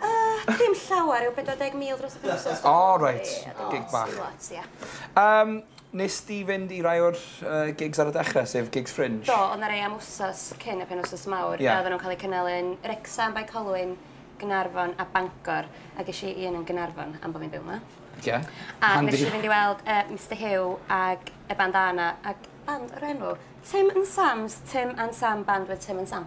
Uh, dim llawer yw 40,000 dros y penwsos. O, oh, reit. Gig bach. Lot, ia. Um, nes di fynd i rai o'r uh, gigs ar y dechrau, sef gigs fringe? Do, ond na rei am wsos cyn y penwsos mawr. Yeah. Oedden nhw'n cael eu cynnal yn Rexham, Bae Colwyn, Gynarfon a Bangor. A ges i un yn Gynarfon am bod fi'n byw yma. Yeah. A Handi. nes i fynd i weld uh, Mr Hugh ag y band Anna ag band o'r enw Tim and Sam's, Tim and Sam band with Tim and Sam.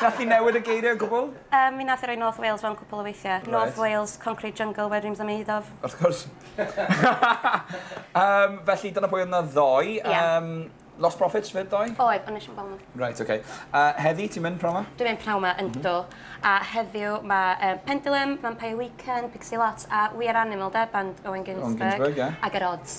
Nath hi newid y geiriau o gwbl? Yym, mi nath hi roi North Wales fewn cwpl o weithiau. Reit. North Wales, concrete jungle where dreams are made of. Wrth gwrs. Yym, felly dyna pwy oedd yna ddoe. Ie. Yym, Lost Prophets 'fyd ddoe? Oedd, ond nes i'm gweld nhw. Reit, ocê. A heddi, ti'n mynd p'nawn 'ma? Dwi'n mynd p'nawn 'ma, yndw. A heddiw mae yy Pendulum, Vampire Weekend, Pixie Lott a We Are Animal 'de, band Owen Ginsberg. Owen Ginsberg, ie. Ag Yr Odds.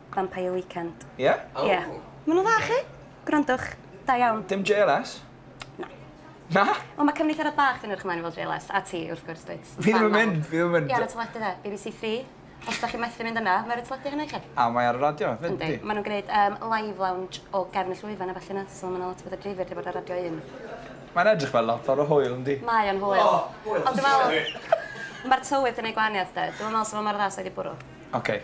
Vampire Weekend. Ie? O. Ie. Ma' nhw'n dda chi? Gwrandwch. Da iawn. Dim JLS? Na. Na? Wel ma' cyfnitharad bach fi'n edrych ymlaen i weld JLS, a ti wrth gwrs dwyt. Fi ddim yn mynd, fi ddim yn mynd. Ie ar y teledu dde, BBC Three. Os da chi methu mynd yna, ma' ar y teledu hynna i chi. A mae ar y radio fyd yndi? Yndi. Ma' nhw'n gwneud um, live lounge o gefn y llwyfan a felly na, so ma' na lot o bethau dreifwyr wedi bod ar radio un. Mae'n edrych fel lot o'r hwyl yndi? Mae o'n hwyl. O, hwyl. Ond dwi'n meddwl, mae'r tywydd yn ei gwahaniaeth de. Dwi'n meddwl sa fo mor dda sa wedi bwrw. Oce. Okay.